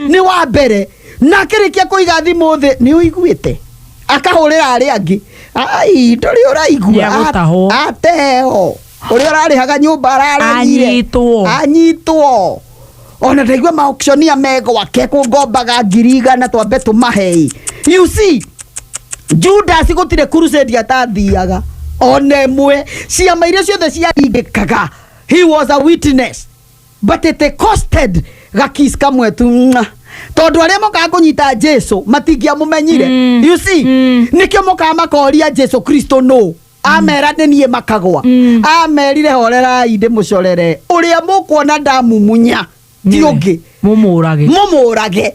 nĩ wa mbere na akĩrĩkia kũiga thimũ thĩ nĩ ũiguĩte akahũrĩra arĩa angĩ ai ndũrĩ ũraigua Nĩagũtahwo. A- ateo ũrĩa ũrarĩhaga nyũmba araregire Anyitwo. anyitwo ona ndaigua maokcionia me gwake kũngombaga ngiri igana twambe tũmahei you see judasi gũtirĩ crusade atathiaga ona ĩmwe ciama iria ciothe ciaringĩkaga he was a witness but it costed gakis kamwe tu Mwah. tondå arä a mokaga kå nyita jesu matingĩamũmenyire Mm. you see Mm. nĩkĩo mokaga makoria jesu kristo no amera nĩ niĩ makagwa Mm. amerire horerai ndĩ mũcorere ũrĩa mũkuona ndamumunya ti ũngĩ mũmũrage må må rage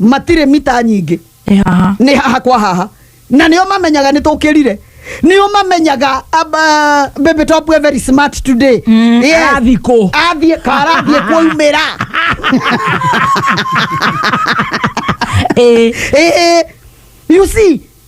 matirĩ mita nyingĩ Nĩ haha. nĩ haha kwa haha na nĩo mamenyaga nĩ tũkĩrire nĩo mamenyaga aba- baby top we very smart today Mm, arathiĩ kũ? athiĩ karathiĩ kwaumĩra Ĩĩ. Eh, eh, you see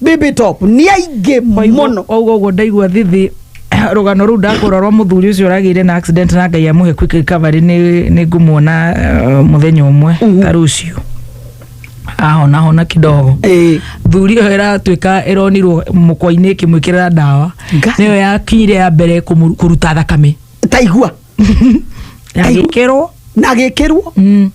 bibitop nĩ aingĩ mũno oguo guo ndaigua thithi rũgano rũu ndakũra rwa mũthuri ũcio ũragĩire na accident na ngai amũhe quick recovery nĩ nĩ ngũmuona eh, mũthenya ũmwe ta rũciũ ahona hona kidogo Eh, thuri ĩyo ĩratuĩka ĩronirwo mũkwa-inĩ ĩkĩmwĩkĩrĩra ndawa Ngai. nĩyo yakinyire ya mbere kũmũ- kũruta thakame taigua Taigua. yagĩkĩrwo na agĩkĩrwo Mm.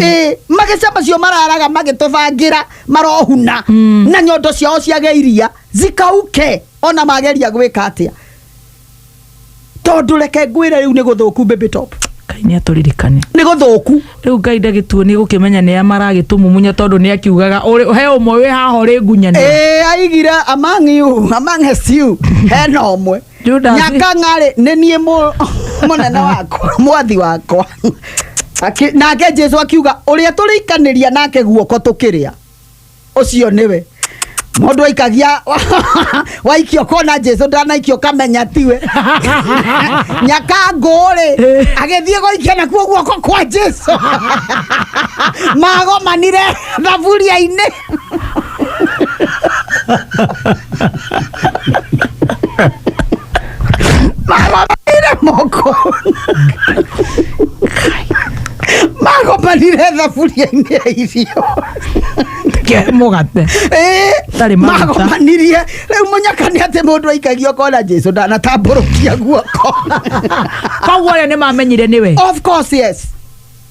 ĩ magĩca macio mararaga magĩtũbangĩra marohuna na nyondo ciao ciage iria zikauke ona mageria gwĩka atĩa tondũ reke ngwĩre rĩu nĩ gũthũku baby top ngai nä atåririkane nĩ gũthũku rä u ngai ndagätuo nä gå kä menya nä a maragä tå mumunya tondå nä akiugaga ũrĩ- he å mwe wä haha å rä ngunyanä ĩ aigire among you among us you hena ũmwe Judas. nyaka ng'arĩ nĩ niĩ mũ- mũnene wakwa mwathi wakwa Akĩ- nake jesu akiuga ũrĩa tũrĩikanĩria nake guoko tũkĩrĩa ũcio nĩwe mũndũ aikagia waikio kona jesu ndanaikio kamenya tiwe nyaka ngũrĩ agĩthiĩ gũikia nakuo guoko kwa jesu magomanire thaburia-inĩ Mira, moco. Mago palireza furia india icio. Ke mugate. Eh, Tarĩ maguta. mago manirie rĩu mũnyaka nĩ atĩ mũndũ aikagio kona jesu ndanatambũrũkia guoko Koguo rĩo nĩ mamenyire nĩwe. of course yes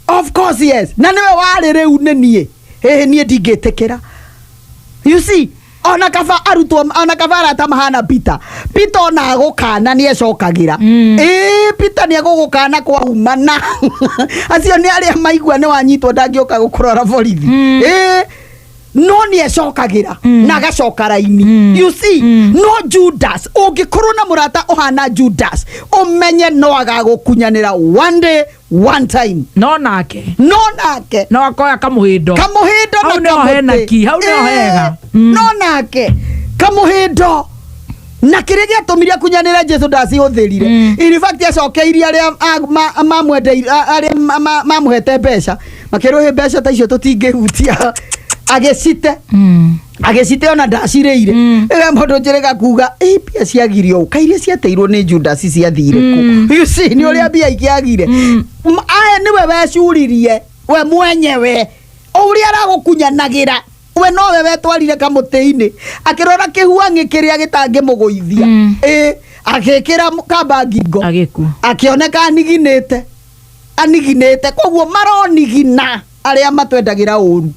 of course yes na nĩwe warĩ rĩu nĩ niĩ hĩhĩ niĩ ndingĩtĩkĩra you see ona kaba arutwo ona kaba arata mahana peter peter ona agũkana nĩ ecokagĩra mm. ĩĩ peter nĩ agũgũkana kwa humana acio nĩ arĩa maigua nĩ wanyitwo ndangĩũka gũkũrora borithi mm. ĩĩ no nĩ ecokagĩra mm. na agacoka raini mm. you see mm. no judas ũngĩkorwo na mũrata ũhana judas ũmenye no agagũkunyanĩra one day one time no nake no nake no akoya kamuhindo kamuhindo Hau na nĩho kamũtĩ. hena ki, hau nĩho Eh, hega. Mm. no nake kamuhindo na kĩrĩa gĩatũmire kunyanĩre jesu ndacihũthĩrire Mm. in fact acokeirie arĩa a- ma- mamwendeire- a- arĩa ma- ma- mamũhete mbeca makĩrũhĩ mbeca ta icio tũtingĩhutia agĩcite Mm. agĩcite ona ndacirĩire ĩga mũndũ njĩrĩga kuga "Ĩ, mbia ciagirio ũka iria ciateirwo nĩ judasi ciathire kũ You see, nĩ ũrĩa mbia ikiagire M- aya nĩwe wecuririe we mwenyewe ũrĩa aragũkunyanagĩra we nowe wetwarire kamũtĩ-inĩ akĩrora kĩhuang'ĩ kĩrĩa gĩtangĩmũgũithia Mm. ĩ agĩkĩra m- kamba ngingo agĩkua akĩoneka aniginĩte aniginĩte koguo maronigina arĩa matwendagĩra ũru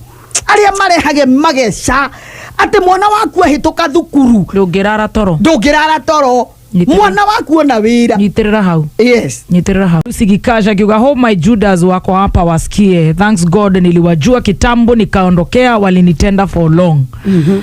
arĩa marehage mageca atĩ mwana waku ahĩtũka thukuru ndũngĩrara toro ndũngĩrara toro Nyitĩrĩra. mwana waku ona wĩra nyitĩrĩra hau yes nyitĩrĩra hau sigikasha akiuga ho my judas wako hapa wasikie thanks god niliwajua kitambo nikaondokea walinitenda for long mm-hmm.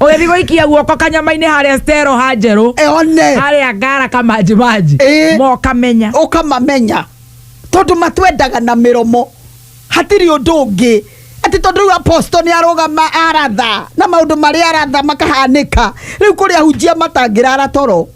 ũgĩthiĩ gũikia guoko kanyama-inĩ harĩa stero ha njerũ Eh, one harĩa ngara kamanjimanji Eh. mokamenya ũkamamenya tondũ matwendaga na mĩromo hatirĩ ũndũ ũngĩ atĩ tondũ rĩu aposto nĩ arũgama aratha na maũndũ marĩa aratha makahanĩka rĩu kũrĩa hunjia matangĩrara toro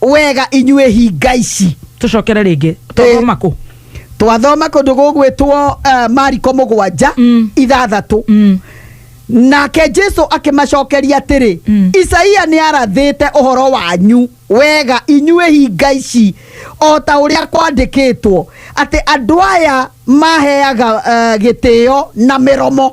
wega inyuĩ hinga ici tucokere rĩngĩ Eh. twathoma kũ twathoma kũndũ gũgwĩtwo uh, mariko mũgwanja Mm. ithathatũ Mm. nake jesu akĩmacokeria atĩrĩ Mm. isaia nĩ arathĩte ũhoro wanyu wega inyuĩ hinga ici o ta ũrĩa kwandĩkĩtwo atĩ andũ aya maheaga uh, gĩtĩo na mĩromo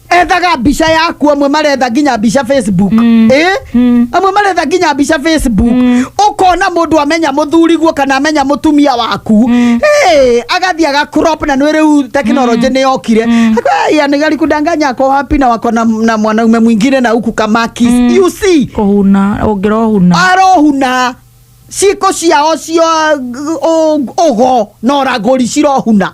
ethaga mbica yaku amwe maretha nginya mbica facebook eh? amwe maretha nginya mbica facebook ukona mundu amenya muthuriguo kana amenya mutumia waku hey, agathi agakrop na nä rä u tekinoronjä nä yokire anigari kudanganya ako hapi na wako na, na mwanaume mwingine na huku kamaki you see kuhuna ungirohuna arohuna ciiko ciao cio å go na å ragå ri cirohuna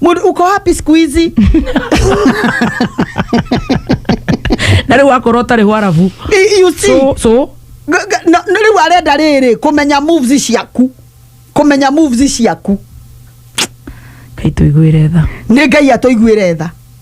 Mudi, uko wapi siku hizi na rä u akorwo å tarä hwarabu I- you see so, so Ga- ga- na- na rĩu arenda rĩrĩ kũmenya moves ciaku kũmenya moves ciaku kaitå iguä re tha nĩ ngai atũiguĩre tha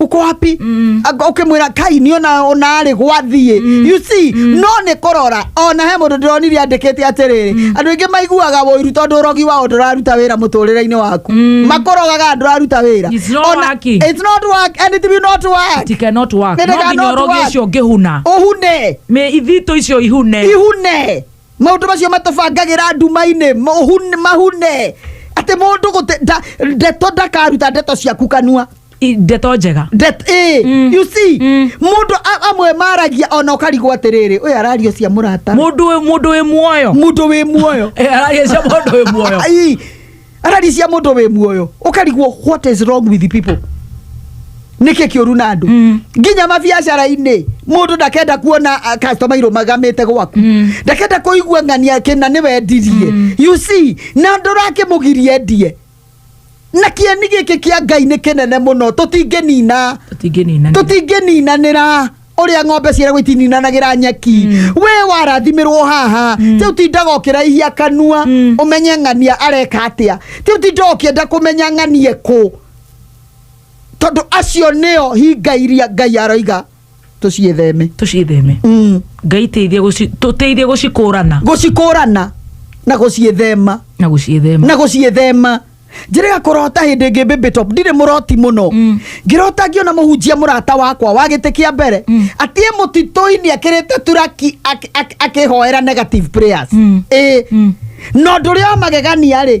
uko wapi mm. ukimwira kai ni ona ona ri gwathie mm. you see mm. no ni kurora ona he mundu ndironire andikite atiriri mm. andu ingi maiguaga woiru tondu urogi wao nduraruta wira muturire-ini waku mm. makurogaga nduraruta wira It's not Ona- working. it's not work and it will not work It cannot work. They No nginya cannot ũrogi work. ũcio ũngĩhuna uhune Mĩ- ithito icio ihune ihune maundu macio matubangagĩra nduma-inĩ mahune- mahune atĩ mũndũ gũte- nda- ndeto ndakaruta ndeto ciaku kanua I- ndeto njega That, eh, you see mũndũ a- amwe maragia ona ũkarigwo atĩrĩrĩ ũyũ arario cia mũrata mundu wi- mundu wi muoyo mũndũ wĩ muoyo Eh, araria cia mundu wi muoyo Ai, araria cia mũndũ wĩ muoyo ũkarigwo what is wrong with the people nĩkĩ kĩũru na andũ Mm. nginya mabiacara-inĩ mũndũ ndakenda kuona ah, customer irũmagamĩte gwaku Mm. ndakenda kũigua ng'ania kĩna nĩ wendirie you see na ndũrakĩmũgirie ndie na kĩeni gĩkĩ kĩa ngai nĩ kĩnene mũno tũtingĩnina tũtingĩnina tũtingĩninanĩra ũrĩa ng'ombe ciaragwo itininanagĩra nyeki we warathimĩrwo haha rĩu tindaga ũkĩraihia kanua ũmenye ng'ania areka atĩa rĩu tindaga ũkĩenda kũmenya ng'anie kũ tondũ acio nĩo hinga iria ngai aroiga tũciĩtheme tũcitheme mm. ngai teithia gũci- tũteithie gũcikũrana gũcikũrana na gũciĩthema na gũcithema na gũciĩthema njĩrĩga kũrota hĩndĩ ĩngĩ baby top ndirĩ mũroti mũno Mm. ngĩrota ngĩona mũhunjia mũrata wakwa wa gĩtĩ kĩa mbere Mm. atiĩ mũtitũ-inĩ akĩrĩte turaki ak- ak- akĩhoera negative prayers Mm. ĩĩ Mm. na ũndũ ũrĩa wa magegania rĩ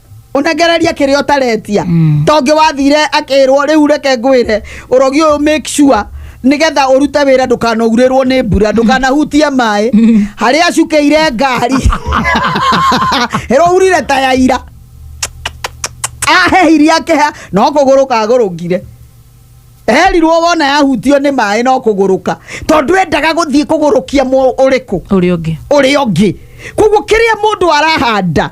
ũnegereria kĩrĩa ũtaretia tongĩ wathire akĩrwo rĩu reke ngwĩre ũrogi ũyũ make sure nĩgetha ũrute wĩra ndũkanaurĩrwo nĩ mbura ndũkanahutie maĩ harĩa acukĩire ngari ĩrourire ta ya ira ahehirie akĩha no kũgũrũka agũrũkire erirwo wona yahutio nĩ maĩ no kũgũrũka tondũ endaga gũthiĩ kũgũrũkia mũ- ũrĩkũ ũrĩa ũngĩ ũrĩa ũngĩ koguo kĩrĩa mũndũ arahanda